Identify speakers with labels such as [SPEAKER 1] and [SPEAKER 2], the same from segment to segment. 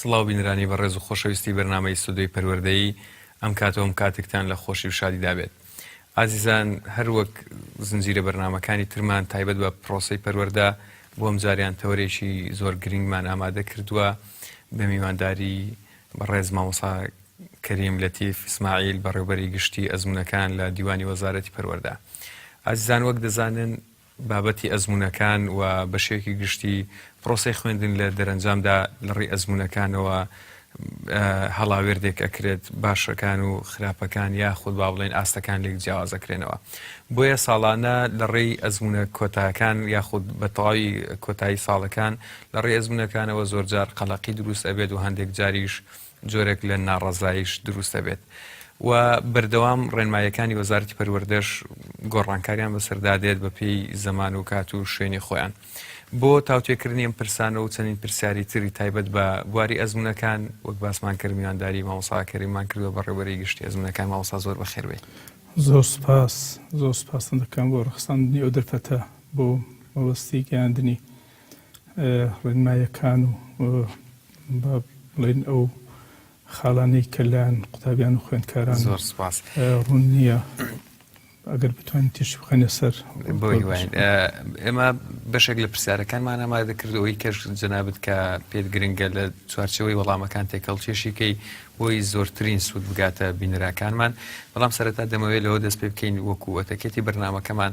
[SPEAKER 1] سڵاو بینرانی بەڕێز و خۆشەویستی بەرنامەی ستۆدیۆی پەروەردەیی ئەم کاتەوەم کاتێکتان لە خۆشی و شادیدا بێت ئازیزان هەر وەک زنجیرە بەرنمەکانی ترمان تایبەت بە پرۆسی پەروەەردە بۆم جاریان تەوەرێکی زۆر گرنگمان ئامادە کردووە بە میوانداری بەڕێز مامۆسا کەریم لەتیف ئیسماعیل بەڕێوبەری گشتی ئەزمونونەکان لە دیوانی وەزارەتی پەروەەردە ئازیزان وەک دەزانن بابەتی ئەزموونەکان و بە شێوەیەکی گشتی پرۆسەی خوێندن لە دەرەنجامدا لە ڕووی ئەزموونەکانەوە هەڵاوێرد دێک ئەکرێت باشەکان و خراپەکان یاخود با بڵێن ئاستەکان لێک جیاوازەکرێنەوە بۆیە ساڵانە لە ڕێی ئەزمونە کۆتاکان یاخود بە تەواوی کۆتایی ساڵەکان لە ڕێ ئەزمونونەکانەوە زۆرجار قەلەقی دروست ئەبێت و هەندێک جاریش جۆرێک لە ناڕەزاییش دروست دەبێت و بەردەوام ڕێنماییەکانی وەزارەتی پەروەردەش گۆڕانکاریان بەسەردا دێت بە پێی زەمان و کات و شوێنی خۆیان بۆ تاوتێکردنی ئەم پرسانە و چەندین پرسیاری تری تایبەت بە بواری ئەزمونونەکان وەک باسمان کرد میوانداری مامۆساکەریمان کردو بە ڕێبەری گشتی ئەزمونونەکان ماوەسا زۆر بەخێربێت زۆر سپاس
[SPEAKER 2] زۆر سپاستن دەکەم بۆ ڕخساندنی ئەو دەرفەتە بۆ مەبەستی گەیاندنی ڕێنمایەکان و با بڵێن ئەو خاڵانەی کە لایەن قوتابیان و خوێندکاران زۆر سپاس
[SPEAKER 1] ڕوون نییە
[SPEAKER 2] ئەگەر بتوان تێشی بخەنە سەر
[SPEAKER 1] ئێمە بەشێک لە پرسیارەکانمان ئامادە کردەوەی کەش جەنابەت کە پێت گرنگە لە چوارچەوەی وەڵامەکان تێکەڵ چێشیکەی بۆی زۆرترین سوود بگاتە بینراکانمان بەڵام سەرەتا دەمەوێت لەوە دەست پێ بکەین وەکووەتەکێتی بەرنمەکەمان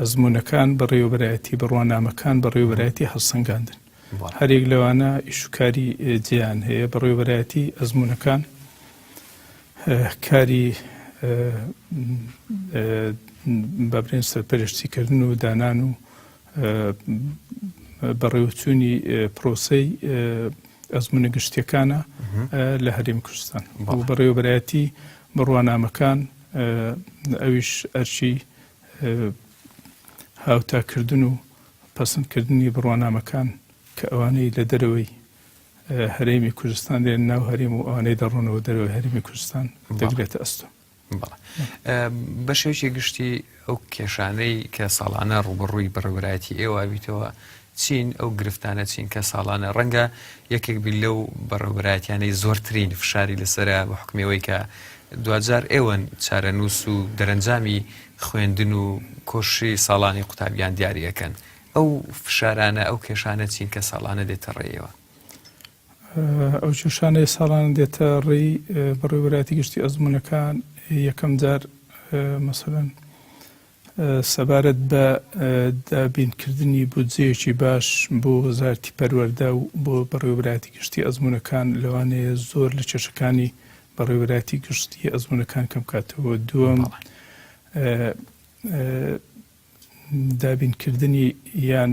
[SPEAKER 2] ئەزموونەکان، بەڕێوەبەرایەتی بڕوانامەکان، بەڕێوەبەرایەتی هەڵسەنگاندن. هەریەک لەوانە ئیش و کاری جێیان هەیە. بەڕێوەبەرایەتی ئەزموونەکان کاری با بڵێن سەرپەرشتیکردن و دانان و بەڕێوەچوونی پرۆسەی ئەزمونە گشتیەکانە لە هەریم کوردستان بەڕێوەبەتی بڕوانامەکان ئەویش ئەرچی هاوتاکردن و پەسەندکردنی بڕوانامەکان کە ئەوانەی لە دەرەوەی هەرێمی کوردستان دێن ناو هەرێم و ئەوانەی دەڕۆنەوە دەرەوەی هەرمی کوردستان دەگرێتە ئەستۆ
[SPEAKER 1] بە شێوکی گشتی ئەو کێشانەی کە ساڵانە ڕوبڕووی بەڕێوەبرایەتی ئێوابیتەوە چین ئەو گرفتانە چین کە ساڵانە ڕەنگە یەکێک بیت لەو بەڕێوەبەرایەتیانەی زۆرترین فشاری لەسەرە بە حوکمی ئەوەی کە دواجار ئێوەن چارەنووس و دەرەنجامی خوێندن و کۆششی ساڵانی قوتابیان دیاری ئەکەن ئەو فشارانە ئەو کێشانە چین کە ساڵانە دێتە ڕێی ئێوە؟
[SPEAKER 2] ئەو کێشانەی ساڵانە دێتە ڕێی بەڕێوەبەرایەتی گشتی ئەزموونەکان یەکەم جار مەسەلەن سەبارەت بە دابینکردنی بودجەیەکی باش بۆ وەزارەتی پەروەردە و بۆ بەڕێوەبەرایەتی گشتی ئەزموونەکان لەوانەیە زۆر لە کێشەکانی بەڕێوەبەرایەتی گشتی ئەزموونەکان کەم بکاتەوە دووەم دابینکردنی یان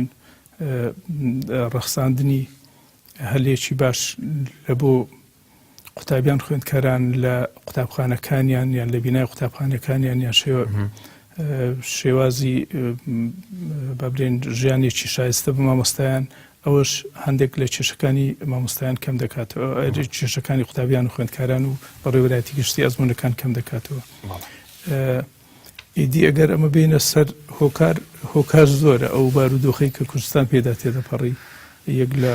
[SPEAKER 2] ڕەخساندنی هەلێکی باش لە بۆ قوتابیان خوێندکاران لە قوتابخانەکانیان یان لە بینای قوتابخانەکانیان یان شێوە شێوازی بەبرێن ژیانێکی شایستە بە مامۆستایان ئەوەش هەندێک لە کێشەکانی مامۆستایان کەم دەکاتەوە کێشەکانی قوتابیان و خوێندکاران و بەڕێوەراتی گشتی ئەزمونونەکان کەم دەکاتەوە ئیدی ئەگەر ئەمە بێینە سەر هۆکار هۆکار زۆرە ئەو بارودۆخی کە کوردستان پێدا تێدەپەڕی یەک لە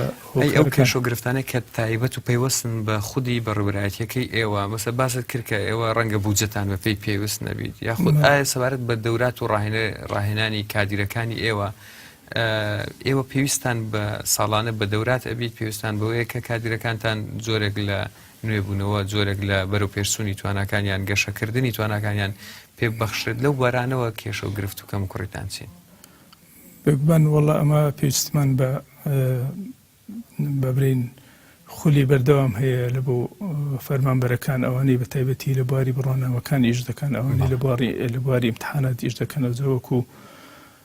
[SPEAKER 1] ئەو کێش و گرفتانە کە تایبەت و پەیوەستن بە خودی بەڕێبرایەتەکەی ئێوە مەسە باست کرد کە ئێوە ڕەنگە بودجەتان بە پێی پێویست نەبیت یاخود ئایا سەبارەت بە دەورات و ڕاهێنە ڕاهێنانی کادیرەکانی ئێوە ئێوە پێویستان بە ساڵانە بە دەورات ئەبیت پێویستان بەوەیە کە کادیرەکانتان زۆرێک لە نوێبوونەوە، جۆرێک لە بەرەوپێشچوونی تواناکان یان گەشەکردنی تواناکانیان پێ ببەخشرێت، لەو بوارانەوە کێشە و گرفت و کەموکوڕیتان چین؟ بێگومان
[SPEAKER 2] وەڵا ئەمە پێویستمان بە بەبرین خولی بەردەوام هەیە لە بۆ فەرمانبەرەکان ئەوانەی بە تایبەتی لە بواری بڕوانامەکان ئیش دەکەن ئەوانەی لە بواری لە بواری امتحانات ئیش دەکەن ئەو جەوەکو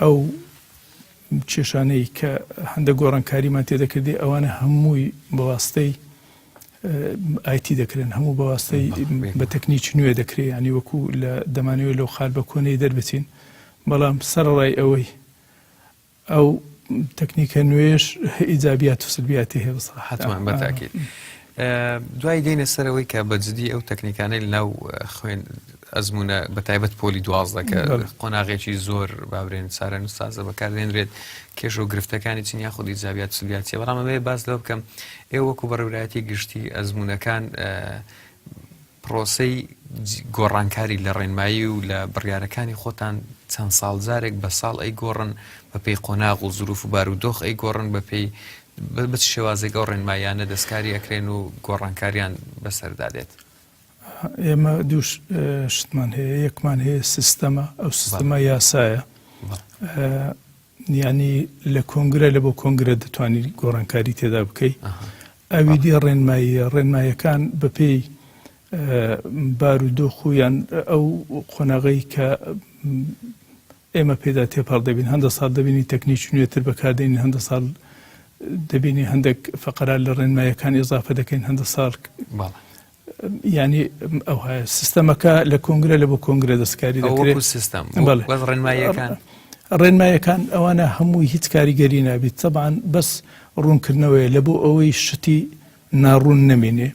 [SPEAKER 2] ئەو کێشانەی کە هەندە گۆڕانکاریمان تێدە کردی ئەوانە هەمووی بەواستەی ئایتی دەکرێن هەموو بەواستەی بە تەکنیکی نوێ دەکرێت ینی وەکو لە دەمانەوەی لەو خال بە کۆنەی دەربچین بەڵام سەرڕای ئەوەی ئەو تەکنیکە نوێش ئیجابات و سلبیاتی هەیە بەسە حتمان بەتاکیت
[SPEAKER 1] دوای دێنە سەرەوەی کە بەجددی ئەو تەکنیکانەی لەناو خوێن ئەزموونە بە تایبەت پۆلی دوازدە کە قۆناغێکی زۆر بابرێن سارە نووسازە بەکاردێنرێت کێش و گرفتەکانی چین یا خودی زیابات سلیاتە بەڵام ئەمەیە باس لەوە بکەم ئێ وەکو بەڕێورایەتی گشتی ئەزمونونەکان پرۆسی گۆڕانکاری لە ڕێنمایی و لە بڕیارەکانی خۆتان چەند ساڵ جارێک بە ساڵ ئەی گۆڕن بە پێی قۆناغ و زروف و بار و دۆخ ئەی گۆڕن بە پێی بچ شێوازێک ئەو ڕێنمایانە دەستکاری ئەکرێن و گۆڕانکاریان بەسەردادێت
[SPEAKER 2] ئێمە دوو شتمان هەیە یەکمان هەیە سیستەمە ئەو سیستەمە یاسایە ینی لە کۆنگرە لە بۆ کۆنگرە دەتوانانی گۆڕانکاری تێدا بکەیت ئەوی دی ڕێنماییە ڕێنمایەکان بەپێی بار و دۆخ و یان ئەو قۆناغی کە ئێمە پێیدا تێپەڕ دەبین. هەندە ساڵ دەبینین تەکنیکی نوێتر بەکاردێنین، هەندە ساڵ دەبینین هەندێک فەقەرە لە ڕێنماییەکان ئێزافە دەکەین، هەندە ساڵ بەڵێ. یعنی ئەوها سیستەمەکە لە کۆنگرە لە بۆ کۆنگرە دەستکاری دەکرێت سیستم ڕێنماییەکان ڕێنمایەکان ئەوانە هەمووی هیچ کاریگەری نابیت تەبان بەس ڕوونکردنەوەی لە بۆ ئەوەی شتی ناڕوون نەمێنێ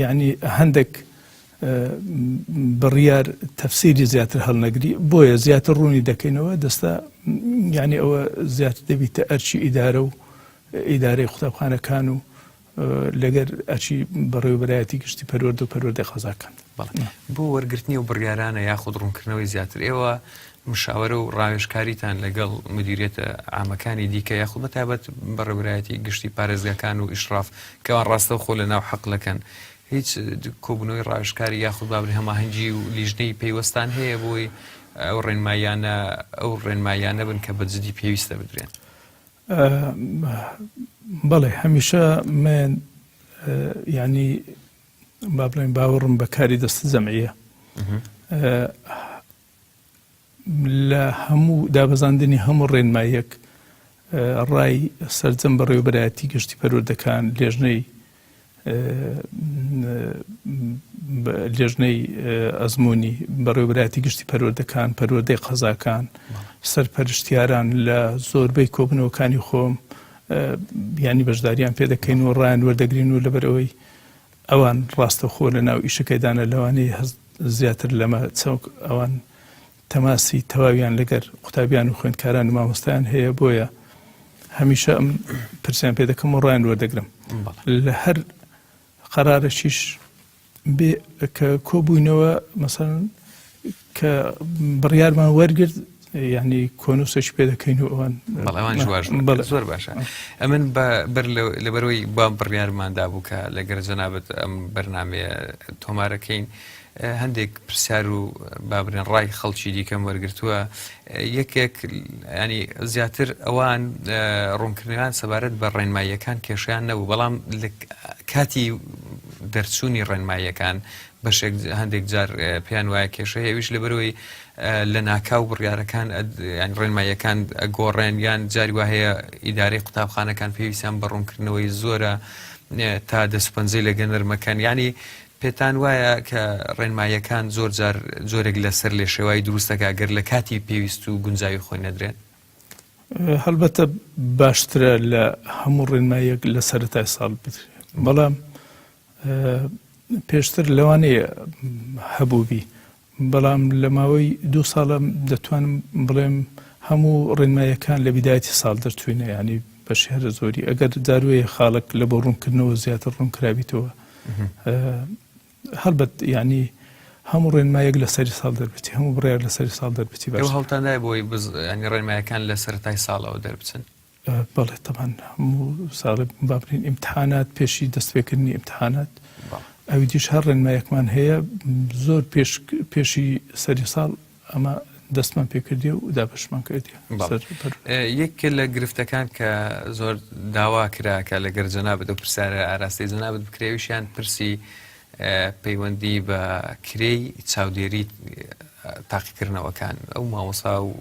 [SPEAKER 2] یەعنی هەندەک بڕیار تەفسیری زیاتر هەڵنەگری بۆیە زیاتر ڕوونی دەکەینەوە دەستا یعنی ئەوە زیاتر دەبیتە ئەرچی ئیدارە و ئیدارەی قوتابخانەکان و لەگەر ئەچی بەڕێوبەرایەتی گشتی پەروەرد و پەروەردە قەزاکان بۆ
[SPEAKER 1] وەرگرتنی و بڕیارانە یاخود ڕوونکردنەوەی زیاتر ئێوە مشاورە و ڕاوێژکاریتان لەگەڵ مدیریەتە عامەکانی دیکە یاخود بە تایبەت بەڕێوەبەرایەتی گشتی پارێزگاکان و ئیشڕاف کە ئەوان ڕاستەوخۆ لە ناو حقلەکەن هیچ کۆبوونەوەی ڕاوێژکاری یاخود بابەتی هەماهەنگی و لیژنەی پەیوەستان هەیە بۆی ئەو ڕێنماییانە ئەو ڕێنماییانە بن کە بە جدی پێویستە بدرێن؟
[SPEAKER 2] بەڵێ هەمیشە من یانی با بڵێین باوەڕم بە کاری دەستە جەمعییە لە هەموو دابەزاندنی هەموو ڕێنماییەک ڕای سەرجەم بەڕێوەبەرایەتی گشتی پەروەردەکان لێژنەی لێژنەی ئەزمموی بەڕێوبراتی گشتی پەروەردەکان پەروەدەی قەزاکان سەرپەرشتیاران لە زۆربەی کۆبنەوەکانی خۆم ینی بەشداریان پێ دەکەین و ڕایان وەردەگرین و لەبەرەوەی ئەوان ڕاستەوخۆ لە ناو ئیشەکەیدانە لەوانەیە هەست زیاتر لەمە چەونک ئەوان تەماسی تەواویان لەگەر قوتابیان و خوێندکاران و مامۆستایان هەیە بۆیە هەمیشە ئەم پرسیان پێ دەکەم و ڕایان وەردەگرم لە هەر قەرارەشیش بێ کە کۆبووینەوە مەسەن کە بڕیارمان وەرگرت یعنی کۆنووسێکی پێ دەکەین و ئەوان بەڵێوان جوواش
[SPEAKER 1] بەڵ زۆر باشە ئەمن بە بەر لەبەرەوەی با بڕیارماندا بوو کە لەگەر جەنابەت ئەم بەرنمەیە تۆمارەکەین هەندێک پرسیار و بابرێن ڕای خەڵکی دیکەم وەرگتووە یەکێک ینی زیاتر ئەوان ڕوونکردنیان سەبارەت بە ڕێنماییەکان کێشیان نەبوو بەڵام کاتی دەرچوونی ڕێنماییەکان بەشێک هەندێک جار پێیان وایە کێشە هەیە ئەویش لەبەرەوەی لە ناکاو بڕیارەکان یان ڕێنماییەکان گۆڕێن یان جاری وا هەیە ئیدارەی قوتابخانەکان پێویستیان بە ڕوونکردنەوەی زۆرە تا دەسپەنجەی لە گەنەرمەکان ینی پێتان وایە کە ڕێنماییەکان زۆر جار جۆرێک لەسەر لێ شێوای دروستەکە گەر لە کاتی پێویست و گونجاوی خۆی نەدرێن
[SPEAKER 2] هەڵبەتە باشترە لە هەموو ڕێنمایەک لە سەرەتای ساڵ بدرێت بەڵام پێشتر لەوانەیە هەبووبی بەڵام لە ماوەی دوو ساڵە دەتوانم بڵێم هەموو ڕێنمایەکان لە بیدایەتی ساڵ دەرچوینە ینی بە شێرە زۆری ئەگەر داروەیە خاڵک لە بۆ ڕوونکردنەوە زیاتر ڕوونکرابیتەوە هەڵبەت ینی هەموو ڕێنمایەک لە سەری ساڵ دەربێتی هەموو بڕێک لە سەری ساڵ دەربێتی بە هەڵتاندای
[SPEAKER 1] بۆی ڕێنمایەکان لە سەرای ساڵەوە دەربچن بەڵێ تەبان
[SPEAKER 2] هەموو ساڵێ بابرین ئیمتحانات پێشی دەستپێکردنی ئیمتحانات ئەوی دیش هەر ڕێنمایەکمان هەیە زۆر پێشی سەری ساڵ ئەمە دەستمان پێکردی و دابشمان کردی یەک
[SPEAKER 1] لە گرفتەکان کە زۆر داوا کراکە لەگەر جەنابەت و پرسیارە ئاراستەی جەنابەت بکرێویشیان پرسی پەیوەندی بە کرێی چاودێری تاقیکردنەوەکان ئەو مامۆسا و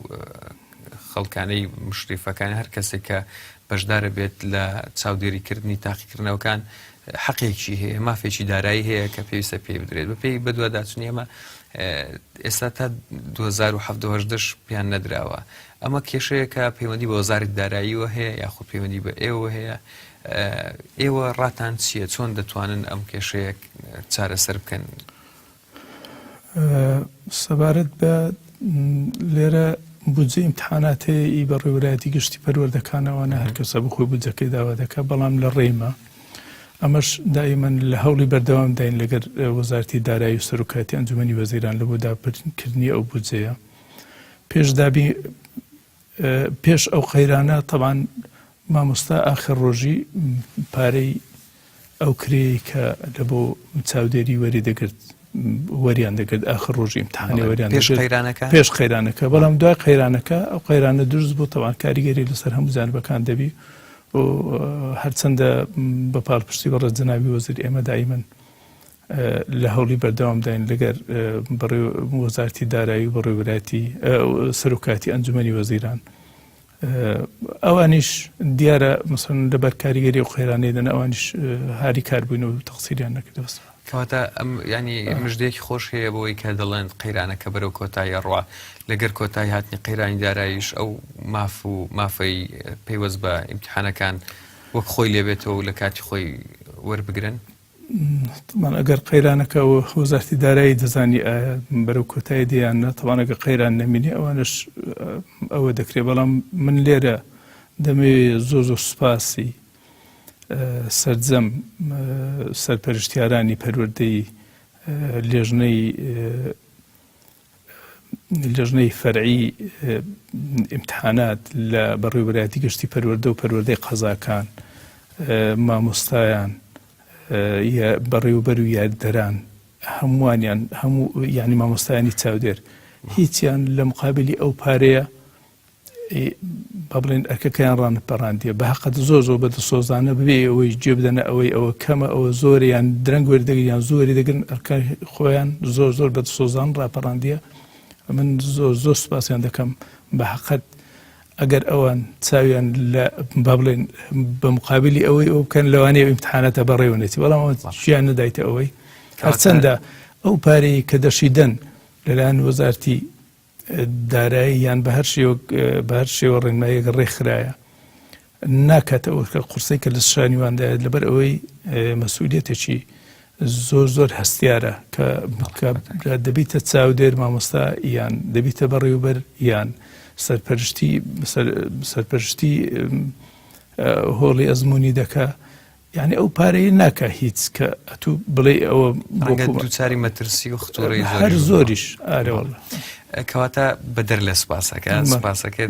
[SPEAKER 1] خەڵکانەی مشریفەکان هەر کەسێک کە بەشدارە بێت لە چاودێریکردنی تاقیکردنەوەکان حەقێکی هەیە مافێکی دارایی هەیە کە پێویستە پێی بدرێت بە پێی بەدووە داچنی ئەمە ئێستا تا 2010 پێیان نەدراوە ئەمە کێشەیەکە پەیوەندی بە وەزارت داراییەوە هەیە یاخود پەیوەندی بە ئێوە هەیە ئێوە ڕاتان چییە چۆن دەتوانن ئەم کێشەیە چارەسەر بکەن؟
[SPEAKER 2] سەبارەت بە لێرە بودجە ئیمتحاناتەیە ئی بە ڕێوەرایەتی گشتی پەروەردەکانەوەە هەرکەسە بخۆی بودجەکەی داوا دەکە بەڵام لە ڕێمە ئەمەش دایمەن لە هەوڵی بەردەوام داین لەگەر وەزارتی دارایی و سەرکاتی ئەنجومی وەزیران لە بۆ داپرکردنی ئەو بودجەیە پێشدابی پێش ئەو قەیرانە تەبان مامۆستا ئاخر ڕۆژی پارەی ئەو کرێی کە لە بۆ چاودێری وەری دەگرت وەریان دەگرت ئاخر ڕۆژی امتحانی وەریان پێش قەیرانەکە پێش قەیرانەکە بەڵام دوای قەیرانەکە ئەو قەیرانە دروست بۆ تەوان کاریگەری لەسەر هەموو جانبەکان دەبی و هەرچەندە بە پاڵپشتی بەڕێ جەناوی وەزیر ئێمە دایمن لە هەوڵی بەردەوامداین لەگەر وەزارەتی دارایی و بەڕێوەبەرایەتی سەرۆکایەتی ئەنجومەنی وەزیران ئەوانیش دیارە مەسن لەبەر کاریگەری و قەیرانەی دەن ئەوانیش هاری کاربووین و تەقسیریان نەکردەوە کەواتە
[SPEAKER 1] ئەم ینی مژدێکی خۆش هەیە بۆی کە دەڵێن قەیرانەکە بەرەو کۆتاییە ڕوا لەگەر کۆتایی هاتنی قەیرانی دارایش ئەو ماف و مافەی پەیوەست بە ئیمتحانەکان وەک خۆی لێبێتەوە و لە کاتی خۆی وەربگرن
[SPEAKER 2] تەبعەن ئەگەر قەیرانەکە و وەزارەتی دارایی دەزانی ئایا بەرەو کۆتایی دێیان نە تەبعەن ئەگە قەیران نەمینێ ئەوانش ئەوە دەکرێت بەڵام من لێرە دەمەوێ زۆر زۆر سوپاسی سرجەم سەرپەرشتیارانی پەروەردەی لێژنەی لیژنەی فەرعی ئیمتحانات لە بەڕێوەبەرایەتی گشتی پەروەردە و پەروەردەی قەزاکان مامۆستایان بەڕێوەبەر و یاریدەران هەمووانیان هەموو یعنی مامۆستایانی چاودێر هیچیان لە مقابلی ئەو پارەیە با بڵێن ئەرکەکەیان ڕانپەڕاندیە بە هەقەت زۆر زۆر بە دڵسۆزانە ببێ ئەوەی جێ بدەنە ئەوەی ئەوە کەمە ئەوە زۆر یان درەنگ وەردەگرن یان زۆری دەگرن ئەرکە خۆیان زۆر زۆر بە دڵسۆزان ڕاپەڕاندیە من زۆر زۆر سپاسیان دەکەم بە هەقەت ئەگەر ئەوان چاویان لە با بڵێن بە مقابلی ئەوەی ئەو بکەن لەوانەیە ئیمتحاناتە بەڕێوەنێتی بەڵام شیان نەدایتە ئەوەی هەرچەندە ئەو پارەیە کە دەشیدەن لەلایەن وەزارتی دارایی یان بە هەر شێوەک بە هەر شێوە ڕێنمایەک ڕێکخرایە ناکاتەوە کە قورسەی کە لە شانیواندایە لەبەر ئەوەی مەسوولەتێکی زۆر زۆر هەستیارە کە دەبیتە چاودێر مامۆستا یان دەبیتە بەڕێوبەر یان سەرپەرشتی سەرپەرشتی هۆڵی ئەزمموی دەکە یانی ئەو پارەیە ناکا هیچ کە ئەتوو بڵێ ئەوە ڕەنگە دووچاری
[SPEAKER 1] مەترسی و خطورەی هەر زۆریش
[SPEAKER 2] ئارەوەڵە کەواتە
[SPEAKER 1] بەدەر لە سپاسەکە سپاسەکە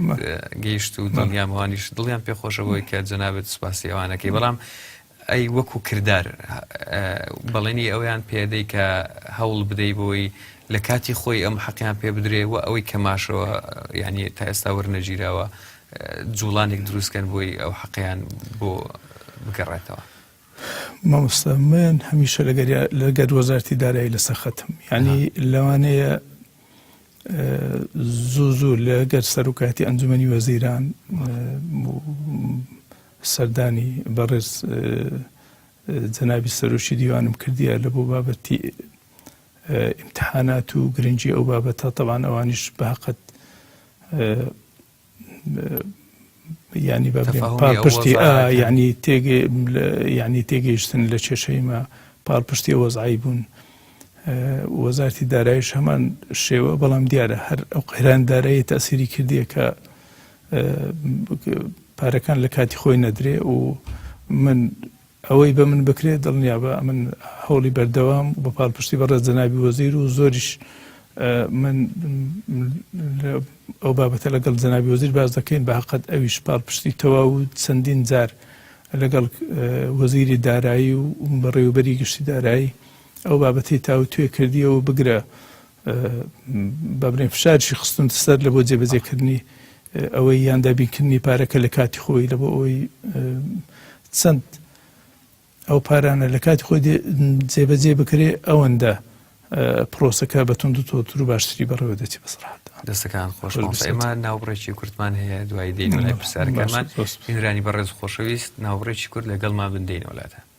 [SPEAKER 1] گەیشت و دڵنیامەوانیش دڵیان پێخۆشەوەی کە جەنابێت سپاسی ئەوانەکەی بەڵام ئەی وەکو کردار بەڵێنی ئەویان پێدەی کە هەوڵ بدەی بۆی لە کاتی خۆی ئەم حەقیان پێ بدرێ و ئەوەی کەماشەوە یعنی تا ئێستا وەرنەگیراوە جوڵانێک دروست کەن بۆی ئەو حەقیان بۆ بگەڕێتەوە.
[SPEAKER 2] مامۆستا من هەمیشە لەگەر وەزارتی دارایی لەسەر خەتم یعنی لەوانەیە زوو زوو لەگەر سەرکاتی ئەنجومی وەزیران سەردانی بەڕێز جەنابی سەرۆکی دیوانم کردیە لە بۆ بابەتی ئیمتیحانات و گرنگی ئەو بابەتە تەبان ئەوانیش بەقەت ینی بە پاڵپشتی ینی تێگەی ینی تێگەیشتن لە کێشەیمە پاڵپشتی وەزعایی بوون وەزارتی دارایش هەمان شێوە بەڵام دیارە هەر ئەو قەیران دارایی تاسیری کردیە کە پارەکان لە کاتی خۆی نەدرێ و من ئەوەی بە من بکرێت دڵنیابە ئەمن هەوڵی بەردەوام بە پاڵپشتی بە ڕێز جەنابی وەزیر و زۆریش من ئەو بابەتە لەگەڵ جەنابی وەزیر باز دەکەین بە هەقەت ئەویش پاڵپشتی تەواو و چەندین جار لەگەڵ وەزیری دارایی و بەڕێوبەری گشتی دارایی ئەو بابەتی تاو توێ کردیەوە بگرە بەبرێن فشارشی خستن سەر لە بۆ جێبەجێکردنی ئەوەی یان دابینکردنی پارەکە لە کاتی خۆی لە بۆ ئەوەی چەند ئەو پارانە لە کاتی خۆی جێبەجێ بکرێ ئەوەندە پرۆسەکە بە تونند تۆتر و باشتری بەڕێوە دەچی بەسرحات دەستەکان خۆش
[SPEAKER 1] ئێمە ناوبڕێکی کورتمان هەیە دوای دێنەوە لای پرسیارەکەمان میرانی بەڕێز خۆشەویست ناوبڕێکی کورد لەگەڵمان بندێنەوەلاتە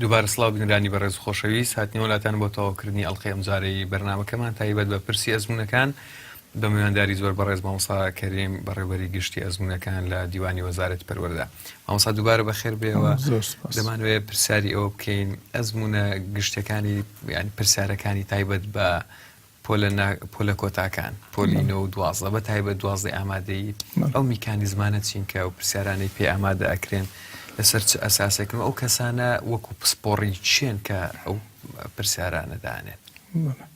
[SPEAKER 1] دووبارە سڵاو بینەرانی بەڕێز و خۆشەویست، هاتنەوە لاتان بۆ تەواوکردنی ئەڵقەی ئەمجارەی بەرنامەکەمان تایبەت بە پرسی ئەزموونەکان بە میوانداری زۆر بەڕێز مامۆستا کەریم بەڕێوەبەری گشتی ئەزموونەکان لە دیوانی وەزارەتی پەروەردە مامۆستا دووبارە بەخێر بێەوە زۆر سپاس. دەمانوێت پرسیاری ئەوە بکەین ئەزموونە گشتەکانی یان پرسیارەکانی تایبەت بە پۆلە نا پۆلە کۆتاکان پۆلی نۆ و دوازدە بە تایبەت دوازدەی ئامادەیی ئەو میکانیزمانە چین کە و پرسیارانەی پێ ئامادە ئەکرێن لەسەر چ ئەساسێکن و ئەو کەسانە وەکو پسپۆڕی چێن کە ئەو پرسیارانە دانێن بەڵێ.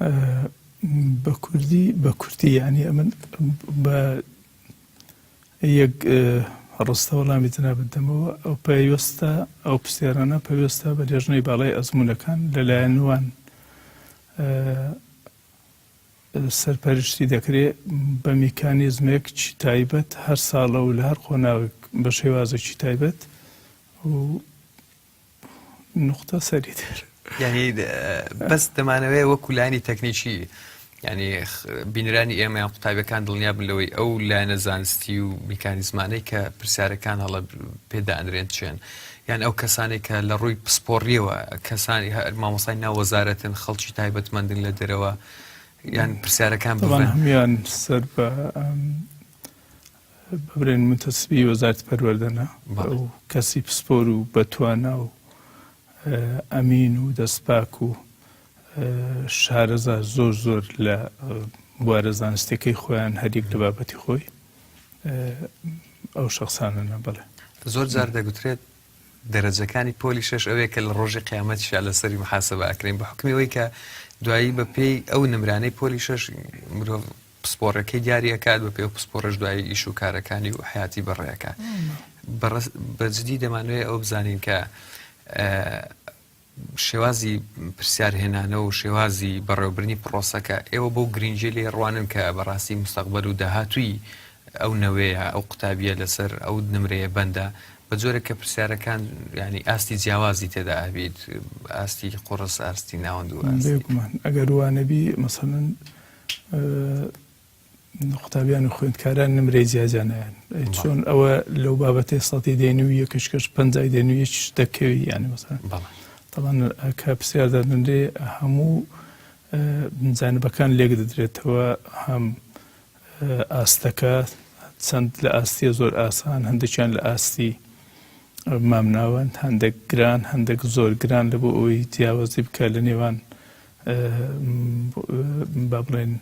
[SPEAKER 1] ئە،
[SPEAKER 2] بە کوردی بە کوردی یانی ئەمن بە یەک ڕستە وەڵامی جەنابت دەمەوە، ئەو پەیوەستە، ئەو پرسیارانە پەیوەستە بە لێژنەی باڵای ئەزموونەکان لەلایەن وان سەرپەرشتی دەکرێ بە میکانیزمێک چی تایبەت هەر ساڵە و لە هەر قۆناغێک بە شێوازێکی تایبەت و نوختە سەری تر یعنی
[SPEAKER 1] بەس دەمانەوەی وەکو لانی تەکنیکی ینی بینرانی ئێمەیان قوتابەکان دڵنیا بن لەوەی ئەو لایەنە زانستی و میکانیزمانەی کە پرسیارەکان هەڵە پێدانرێن چێن یان ئەو کەسانێک کە لە ڕووی پسپۆڕیەوە کەسانی مامۆسای ناوەزارەتن خەڵکی تایبەتمەندن لە دەرەوە یان پرسیارەکان بڵێن هەمیان
[SPEAKER 2] سەر بە ببرێن متەسبی وەزارەتی پەروەردە نا و کەسی پسپۆر و بەتوانا و ئەمین و دەستپاک و شارەزا زۆر زۆر لە بوارە زانستەکەی خۆیان هەریەک لە بابەتی خۆی ئەو شخصانە نەبڵێ زۆر جار دەگوترێت
[SPEAKER 1] دەرەجەکانی پۆلی شش ئەوەیە کە لە ڕۆژی قیامەت شا لەسەری محاسبە ئەکرین بە حکمەوەی کە دوایی بە پێی ئەو نمرانەی پۆلی شش مرۆڤ پسپۆڕەکەی دیاری ئەکات بە پێ و پسپۆڕش دوایی ئیش و کارەکانی و حیاتی بەڕێەکە بەجددی دەمانوێت ئەو بزانین کە شێوازی پرسیارهێنانە و شێوازی بەڕێوبرنی پرۆسەکە ئێوە بۆ گرنگجی لێ ڕوانن کە بەڕاستی مستەقبەر و داهاتووی ئەو نەوەیە ئەو قوتابیە لەسەر ئەو نمرەیە بەندە بە جۆرە کە پرسیارەکان ینی ئاستی جیاوازی تێدا ئەبیت ئاستی قڕس ئاستی ناوەند و ئەگەر
[SPEAKER 2] وانەبی مەسەن قوتابیان و خوێندکاران نمرەی جیاجیا نایەن چۆن ئەوە لەو بابەتێ سەتی دێن و یەکش کەش پنجای دێن و یەکش دەکەوی یانی مەسەن تەڵان کە پرسیار دادنرێ هەموو بنجانبەکان لێک دەدرێتەوە هەم ئاستەکە چەند لە ئاستیە زۆر ئاسان هەندێکیان لە ئاستی مامناوەند هەندێک گران هەندێک زۆر گران لە بۆ ئەوەی جیاوازی بکە لە نێوان با بڵێین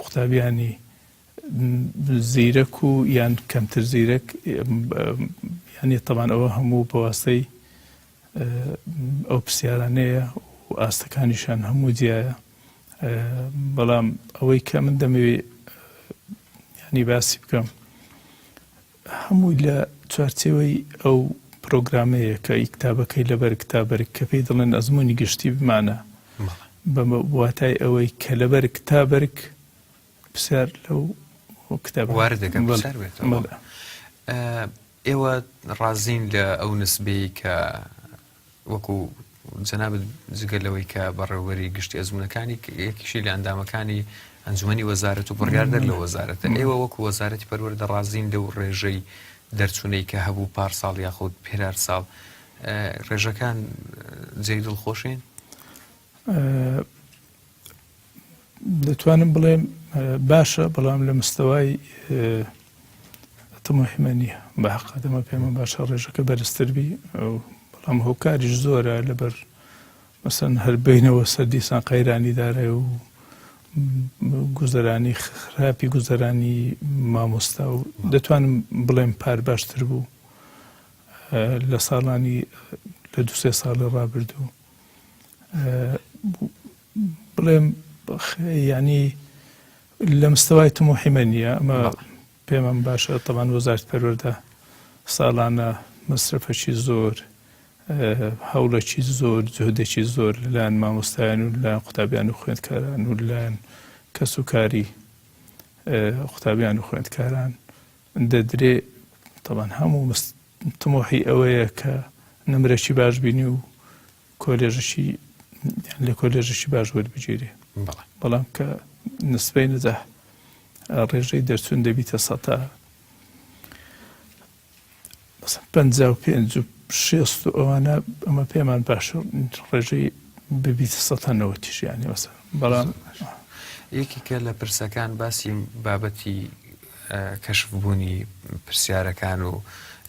[SPEAKER 2] قوتابیانی زیرەک و یان کەمتر زیرەک یانی تەبان ئەوە هەموو بەواستەی ئەو پرسیارانەیە و ئاستەکانیشان هەموو جیایە بەڵام ئەوەی کە من دەمەوێ ینی باسی بکەم هەمووی لە چوارچێوەی ئەو پرۆگرامەیە کە ئی کتابەکەی لە بەرگ تا بەرگ کە پێی دەڵێن ئەزموونی گشتی بمانە بە واتای ئەوەی کە لە بەرگ تا بەرگ پرسیار لەو کتاب وارد دەکەم
[SPEAKER 1] پرسیار بێتەوە ئێوە ڕازین لە ئەو نسبەیە کە وەکو جەنابت جگە لەوەی کە بەڕێوبەری گشتی ئەزمونونەکانی یەکیشی لە ئەندامەکانی ئەنجومی وەزارەت و بڕیاردەر لە وەزارەتە ئێوە وەکو وەزارەتی پەروەەر دەڕازین لەو ڕێژەی دەرچوونەی کە هەبوو پار ساڵ یاخود پێرار ساڵ ڕێژەکان جێی دڵخۆشین
[SPEAKER 2] دەتوانم بڵێم باشە بەڵام لە مستەوای تمەحمە نییە بە حقدەمە پێمە باشە ڕێژەکە بەرزتربی بەڵام هۆکاریش زۆرە لەبەر مەسەن هەر بینەوە سەر دیسان قەیرانی دارێ و گوزەرانی خراپی گوزەرانی مامۆستا و دەتوانم بڵێم پار باشتر بوو لە ساڵانی لە دوسێ ساڵە ڕابردوو بڵێم یعنی لە مستەوای تموحی من نیە ئەمە پێمەم باشە تەوان وەزارت پەروەەردە ساڵانە مەسرفەکی زۆر هەوڵەکی زۆر جهدێکی زۆر لەلایەن مامۆستایان و لایەن قوتابیان و خوێندکاران و لایەن کەس و کاری قوتابیان و خوێندکاران دەدرێ تەوان هەموو تموحی ئەوەیە کە نمرەشی باش بینی و کۆلێژشی لە کۆلێژشی باش وەربگیرێ بەڵام کە نسبەی نەجاح ڕێژەی دەرچوون دەبیتە سەتا پ و پێ شێست و ئەوانە ئەمە پێمان باش ڕێژەی ببیتە سەتا نەوە تیژیانی وەسە بەڵام
[SPEAKER 1] یەکیکە لە پرسەکان باسی بابەتی کەشف بوونی پرسیارەکان و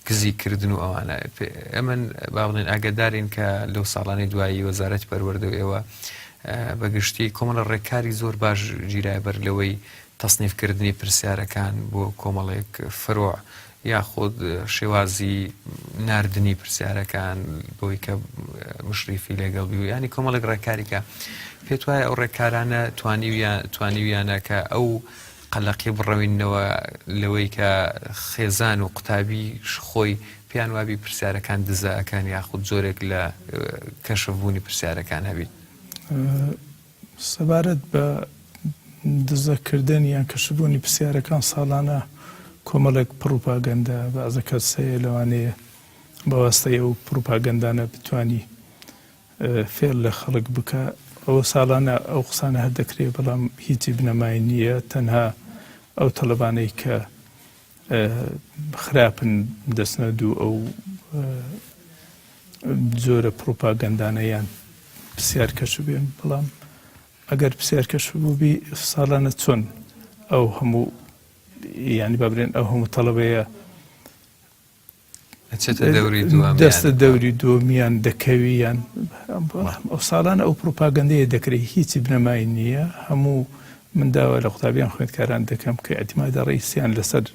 [SPEAKER 1] دزی کردن و ئەوانە ئەمە با بڵێن ئاگدارین کە لەو ساڵانی دوایی وەزارەتی پەروەردە و ئێوە بە گشتی کۆمەڵە ڕێکاری زۆر باش گیرای بەر لەوەی تەصنیفکردنی پرسیارەکان بۆ کۆمەڵێک فرۆ یاخود شێوازی نردنی پرسیارەکان بۆی کە مشریفی لەگەڵ بی و ینی کۆمەڵێک ڕێکاریکە پێت وایە ئەو ڕێکارانە توانیویان توانیویانە کە ئەو قەلەقی بڕەوینەوە لەوەی کە خێزان و قوتابیش خۆی پێیان وابی پرسیارەکان دزە ئەکەن یاخود جۆرێک لە کەشف بوونی پرسیارەکان هەبیت؟
[SPEAKER 2] سەبارەت بە دزە کردن یان کەشف بوونی پرسیارەکان ساڵانە کۆمەڵێک پڕوپاگەندە بەعزە کەس هەیە لەوانەیە بەواستەی ئەو پڕوپاگەندانە بتوانی فێڵ لە خەڵک بکا ئەوە ساڵانە ئەو قسانە هەر دەکرێ بەڵام هیچی بنەمای نییە تەنها ئەو تەڵەبانەی کە خراپن دەچنە دوو ئەو جۆرە پڕوپاگەندانە یان پرسیار کەش بێن بەڵام ئەگەر پرسیار کەش بووبی ساڵانە چۆن ئەو هەموو ینی بابرێن ئەو هەموو تەڵەبەیە ئەچێتە دەوری دووەمیان دەستە دەوری دووەمیان دەکەویان ئەو ساڵانە ئەو پروپاگەندەیە دەکرێت هیچی بنەمای نییە هەموو من داوا لە قوتابیان خوێندکاران دەکەم کە ئەتیما دەڕیسیان لەسەر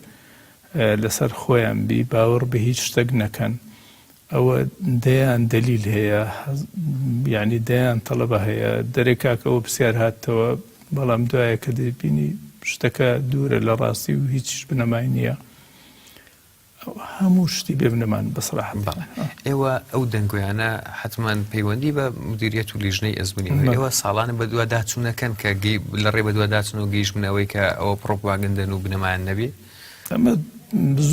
[SPEAKER 2] لەسەر خۆیان بی باوەڕ بە هیچ شتێک نەکەن ئەوە دەیان دەلیل هەیە یعنی دەیان تەڵەبە هەیە دەرێک کاکەەوە پرسیار هاتەوە بەڵام دوایە کە دەبینی شتەکە دوورە لە ڕاستی و هیچ بنەمای نییە. هەموو شتی بێ بنەمان بە سەراحەت. بەڵێ ئێوە
[SPEAKER 1] ئەو دەنگۆیانە حەتمان پەیوەندی بە مدیریەت و لیژنەی ئەزموونی هەیە ئێوە ساڵانە بەدواداچوو نەکەن کە لە ڕێ بەدواداچن و گەیشتبنە ئەوەی کە ئەوە پڕۆپاگەندەن و بنەمایان نەبێ؟ ئەمە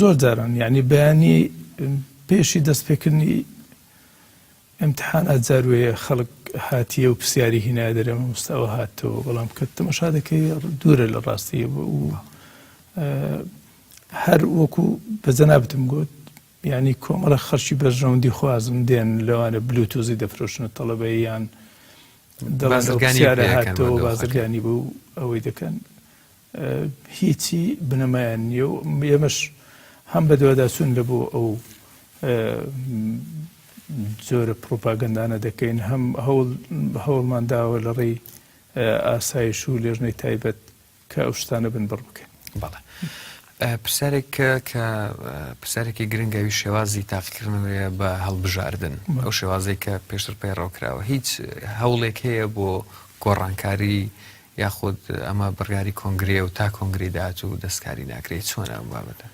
[SPEAKER 2] زۆر جاران یانی بەیانی پێشی دەستپێکردنی ئیمتیحانات جار وەیە خەڵک هاتییە و پرسیاری هینایە دەرێ مامۆستا ئەوە هاتەوە بەڵام کە تەماشا دەکەی دوورە لە ڕاستییەوە و هەر وەکو بە جەنابتم گوت یعنی کۆمەڵە خەرکی بەرژەوەندی خوازم دێن لەوانە بلوتوزی دەفرۆشنە تەڵەبەیان بازرگانیهاتەوە بازرگانی بۆ ئەوەی دەکەن هیچی بنەمایان نیە و ئێمەش هەم بە دوواداچون لە بۆ ئەو زۆرە پرۆپاگەندانە دەکەین هەم هەوڵمان داوە لە ڕێی ئاسایش و لێژنەی تایبەت کە ئەو شتانە بن بڕ بکەن بەڵێ
[SPEAKER 1] پرسیارێک کە پرسیارێکی گرنگەوی شێوازی تاقیکردنەوەیە بە هەڵبژاردن ئەو شێوازی کە پێشتر پەیڕەوکراوە هیچ هەوڵێک هەیە بۆ گۆڕانکاری یاخود ئەمە بڕیاری کۆنگرێ و تا کۆنگری داات و دەستکاری ناکرێت چۆن ئەم بابەتە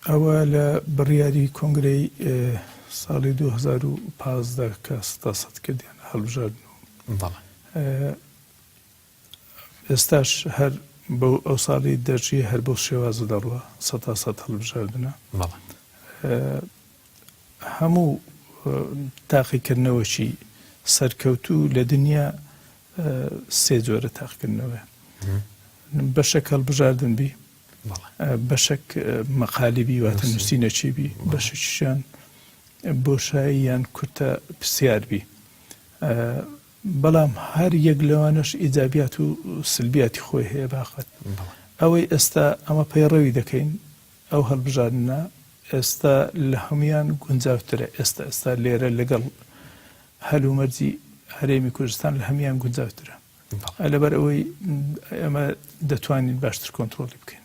[SPEAKER 2] ئەوە لە بڕیاری کۆنگرەی ساڵی 2015 کە ستا سەد کردیان هەڵبژاردن و بەڵێ ئێستاش هەر بەو ئەوساڵی دەژی هەر بەو شێوازە دەڕوا سەتا سەد هەڵبژاردنە بەڵێ هەموو تاقیکردنەوەکی سەرکەوتو لە دنیا سێ جۆرە تاقکردنەوە بەشەک هەڵبژاردن بی بەشەک مەقالی بی واتە نووسینەچی بی بەشەکیشان بۆشایی یان کورتە پرسیار بی بەڵام هەر یەک لەوانەش ئیجابیات و سلبیاتی خۆی هەیە باقەت ئەوەی ئێستا ئەمە پەیڕەوی دەکەین ئەو هەڵبژاردنە ئێستا لە هەموویان گونجاوترە ئێستا ئێستا لێرە لەگەڵ هەلومەرجی هەرێمی کوردستان لە هەموویان گونجاوترە لەبەر ئەوەی ئێمە دەتوانین باشتر کۆنترۆڵی بکەین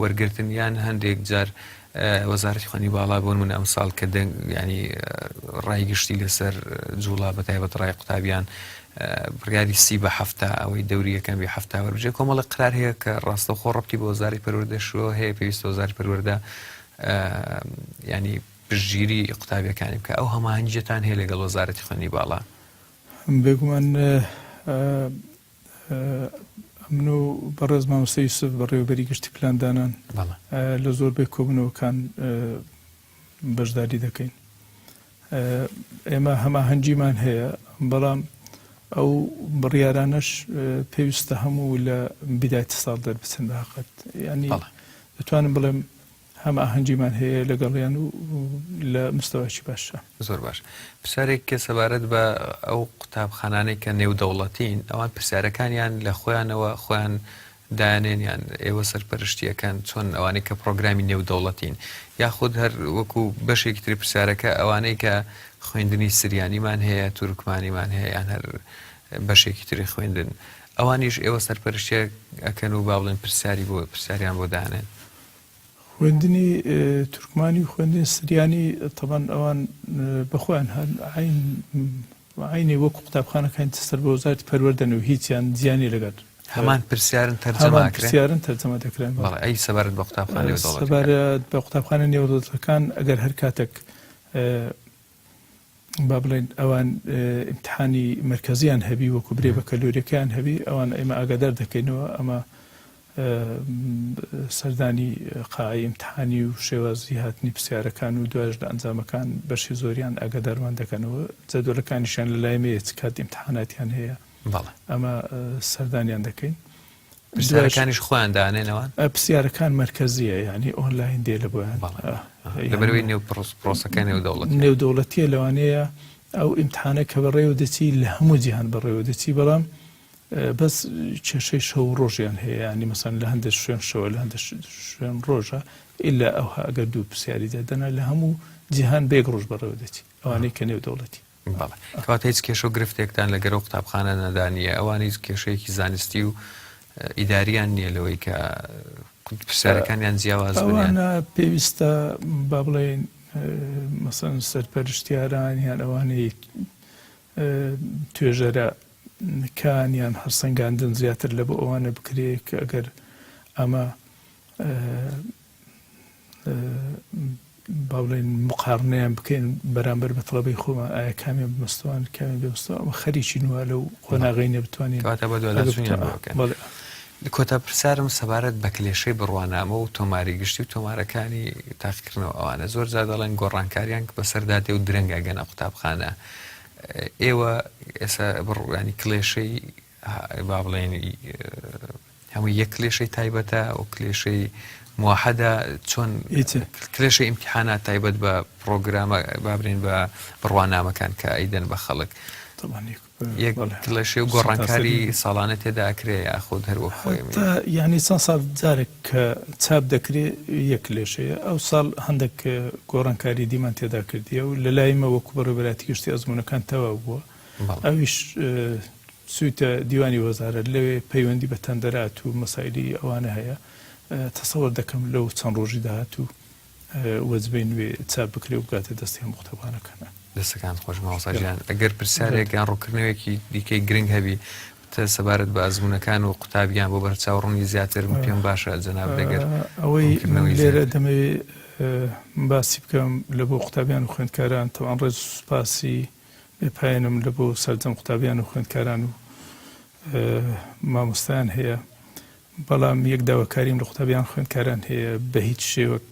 [SPEAKER 1] وەرگرتن یان هەندێک جار وەزارەتی خوێنی باڵا بۆ نموونە ئەمساڵ کە دەنگ یانی ڕای گشتی لەسەر جووڵا بە تایبەت ڕای قوتابیان بڕیاری سی بە هەفتا ئەوەی دەوری یەکەم بێ هەفتا وەربجێ کۆمەڵە قرار هەیە کە ڕاستە خۆ ڕەبتی بۆ وەزاری پەروەردەشەوە هەیە پێویستە وەزاری پەروەردە ینی پشتگیری قوتابیەکانی بکە ئەو هەماهەنگیەتان هەیە لەگەڵ وەزارەتی خوێنی باڵا بێگومان
[SPEAKER 2] ئەمن و بەڕێز مامۆستا یوسف بەڕێوەبەری گشتی پلاندانان لە زۆربەی کۆبنەوەکان بەشداری دەکەین ئێمە هەماهەنگیمان هەیە بەڵام ئەو بڕیارانەش پێویستە هەموو لە بیداتی ساڵ دەربچن بەقەت ینی دەتوانم بڵێم هەماهەنگیمان هەیە لەگەڵیان و لە مستەوایەکی باشە. زۆر باش.
[SPEAKER 1] پرسیارێک کە سەبارەت بە ئەو قوتابخانانەی کە نێودەوڵەتین، ئەوان پرسیارەکانیان لە خۆیانەوە خۆیان دایانێن یان ئێوە سەرپەرشتی ئەکەن؟ چۆن ئەوانەی کە پرۆگرامی نێودەوڵەتین یاخود هەر وەکو بەشێکی تری پرسیارەکە ئەوانەی کە خوێندنی سریانیمان هەیە، تورکمانیمان هەیە یان هەر بەشێکی تری خوێندن ئەوانیش ئێوە سەرپەرشتیان ئەکەن و با بڵێن پرسیاری بۆ پرسیاریان بۆ دانێن؟ خوێندنی
[SPEAKER 2] تورکمانی و خوێندنی سریانی تەبەن ئەوان بە خۆیان هەن عین عینی وەکو قوتابخانەکانی تر سەر بە وەزارەتی پەروەردەن و هیچیان جیا نیە لەگەل هەمان پرسیارن
[SPEAKER 1] تەرجەمە هەمان ئەکرێن پرسیارن تەرجەمە
[SPEAKER 2] دەکرێن بەڵێ بەڵێ ئەی سەبارەت بە
[SPEAKER 1] قوتابخانەی دەوڵەتەکان سەبارەت بە
[SPEAKER 2] قوتابخانە نێودەوڵەتەکان ئەگەر هەر کاتێک اه، با بڵێین ئەوان ئیمتیحانی مەرکەزیان هەبی وەکو برێ بەکەلۆریەکەیان هەبی ئەوان ئێمە ئاگادار دەکەینەوە ئەمە سەردانی قاعی ئیمتحانی و شێوازی هاتنی پرسیارەکان و دوایش لە ئەنجامەکان بەشی زۆریان ئاگادارمان دەکەنەوە جەدۆلەکانیشیان لە لایمەیە چ کات ئیمتحاناتیان هەیە ئەمە سەردانیان دەکەین پرسیارەکانیش
[SPEAKER 1] خۆیان دانێنەوە پرسیارەکان
[SPEAKER 2] مەرکەزیە ینی ئۆنلاین دێ لە بۆیان لەبەروی
[SPEAKER 1] نێو پرۆسەکە نێو دەوڵەت نێو دەوڵەتیە
[SPEAKER 2] لەوانەیە ئەو ئیمتحانە کە بەڕێوە دەچی لە هەموو جیهان بەڕێوە دەچی بەڵام بەس کێشەی شەو ڕۆژیان هەیە ینی مەسەن لە هەندێک شوێن شەوە لە هەندێک شوێن ڕۆژە ئللا ئەوها ئەگەر دوو پرسیاری دەدەنا لە هەموو جیهان بێک ڕۆژ بەڕێوە دەچی ئەوانەی کە نێو دەوڵەتی بەڵێ. کەواتە هیچ
[SPEAKER 1] کێشە و گرفتێکتان لە گەرە و قوتابخانە نەدا نییە، ئەوان هیچ کێشەیەکی زانستی و ئیدارییان نییە لەوەی کە پرسیارەکانیان جیاواز بن؟ ئەوانە پێویستە
[SPEAKER 2] با بڵێین مەسەن سەرپەرشتیاران یان ئەوانەی توێژەرە کانیان هەرسەنگاندن زیاتر لە بۆ ئەوانە بکرێت کە ئەگەر ئەمە با بڵێین مقارنەیان بکەین بەرامبەر بە تەڵەبەی خۆمان ئایا کامیان بمەستوان کامیان بمەستەوە ئەمە خەریکی نوە لەو قۆناغی نەبتوانین
[SPEAKER 1] کۆتا پرسیارم سەبارەت بە کلێشەی بڕوانامە و تۆماری گشتی و تۆمارەکانی تاقیکردنەوە ئەوانە زۆر جا دەڵێن گۆڕانکاریان بەسەردا دێ و درەنگە گەنە قوتابخانە ئێوە ئێستا بڕوانی کلێشەی با بڵێین هەمووی یەک کلێشەی تایبەتە و کلێشەی موحدا چۆن کلێشە ئیمتحانە تایبەت بە پرۆگرامە بابرین بە بڕوانامەکان کە ئەیدەن بە خەڵک یەک کلێشێ و گۆڕانکاری ساڵانە تێداکرێ یاخود هەروە خۆی یعنی چەند ساڵ
[SPEAKER 2] جارێک کە چاپ دەکرێ یەک کلێشەیە ئەو ساڵ هەندێک گۆڕانکاری دیمان تێدا کردیە و لە لایمە وەکو بەڕێبراتی گشتی ئەزمونونەکان تەواو بووە ئەویش چویتە دیوانی وەزارەت لەوێ پەیوەندی بە تەندەرات و مەسایلی ئەوانە هەیە تەسەوەر دەکەم لەو چەند ڕۆژی داهات و وەجبەی نوێ چاپ بکرێ و بگاتە دەستی هەموو قوتابخانەکانە دەستەکان خۆش
[SPEAKER 1] ماوەساژیان ئەگەر پرسیارێک یان ڕووکردنەوەیەکی دیکەی گرنگ هەبی تە سەبارەت بە ئەزمونونەکان و قوتابیان بۆ بەرچاوڕوونی زیاتر پێم باشە جەناب دەگەر ئەوەی
[SPEAKER 2] لێرە دەمەوێت باسی بکەم لە بۆ قوتابیان و خوێندکاران تەوان ڕێز سوپاسی بێ پایەنم لە بۆ سەرجەم قوتابیان و خوێندکاران و مامۆستایان هەیە بەڵام یەک داواکاریم لە قوتابیان خوێندکاران هەیە بە هیچ شێوەک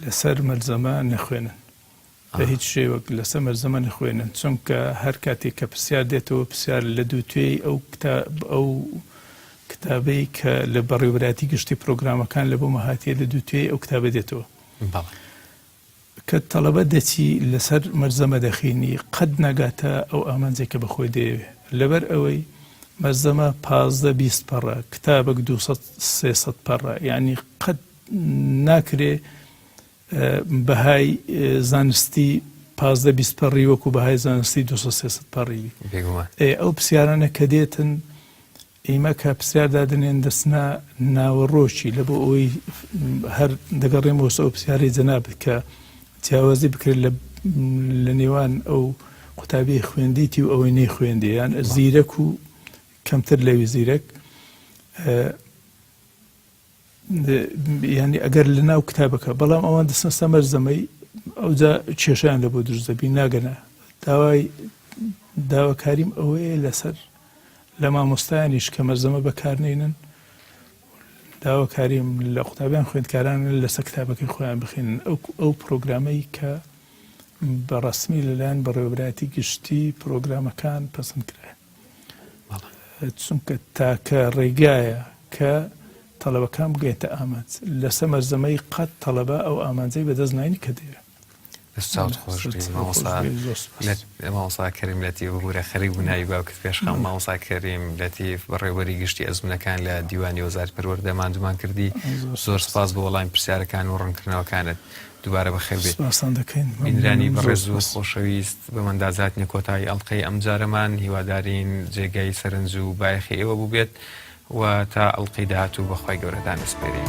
[SPEAKER 2] لەسەر مەلزەمە نەخوێنن بە هیچ شێوەک لەسەر مەلزەمە نەخوێنن چونکە هەر کاتێک کە پرسیار دێتەوە پرسیار لە دوو توێی ئەو کتاب ئەو کتابەی کە لە بەڕێوراتی گشتی پرۆگرامەکان لە بۆ مەهاتیە لە دوو توێی ئەو کتابە دێتەوە کە تەڵەبە دەچی لەسەر مەلزەمە دەخینی قەت ناگاتە ئەو ئامانجەی کە بە خۆی دەیەوێ لەبەر ئەوەی مەلزەمە پازدە بیست پەڕە کتابەک دوو سەد سێ سەد پەڕە یانی قەت ناکرێ بەهای زانستی پازدە بیست پەڕی وەکو بەهای زانستی دو سێ سەد پەڕی ئەو پرسیارانە کە دێتن ئیمە کە پرسیار دادەنێن دەچنە ناوەڕۆکی لە بۆ ئەوەی هەر دەگەڕێمەوە سەر ئەو پرسیارەی جەنابت کە جیاوازی بکرێت لە لە نێوان ئەو قوتابی خوێندیتی و ئەوەی نەی خوێندی یان زیرەک و کەمتر لەوی زیرەک یانی ئەگەر لە ناو کتابەکە بەڵام ئەوان دەسمەستە مەرزەمەی ئەوجا کێشیان لە بۆ دروست دەبی ناگەنە داوای داواکاریم ئەوەیە لەسەر لە مامۆستایانیش کە مەرزەمە بەکارنێنن داواکاریم لە قوتابیان خوێندکاران لەسەر کتابەکەی خۆیان بخێنن ئەو ئەو پرۆگرامەی کە بە ڕسمی لەلایەن بەڕێوەبراتی گشتی پرۆگرامەکان پەسند کرایە چونکە تاکە ڕێگایە کە تەڵەبەکان بگەێتە ئامانج لە سەمەر زەمەی قەت تەڵەبە ئەو ئامانجەی بەدەست ناین کە دەیە ساوت خۆش
[SPEAKER 1] ماوەسا کەریم لەتی ببوورە خەری بووناوی باوکت پێشخەم ماوەسا کەریم لەتیف بەڕێوەری گشتی ئەزمونەکان لە دیوانی وەزار پەروەەردە مادومان کردی زۆر سپاس بۆ وەڵام پرسیارەکان و ڕنکردنەوەکانت دوبارە بەخێر بێی. سپاستان دەکەین بینرانی مەمنونم زۆر بەڕێز و سپاس. خۆشەویست بەمەندا زاتینە کۆتایی ئەڵقەی ئەمجارەمان هیوادارین جێگای سەرنج و بایەخی ئێوە بوبێت و تا ئەڵقەی داهاتوو بەخوای گەورە دانەسپێرین.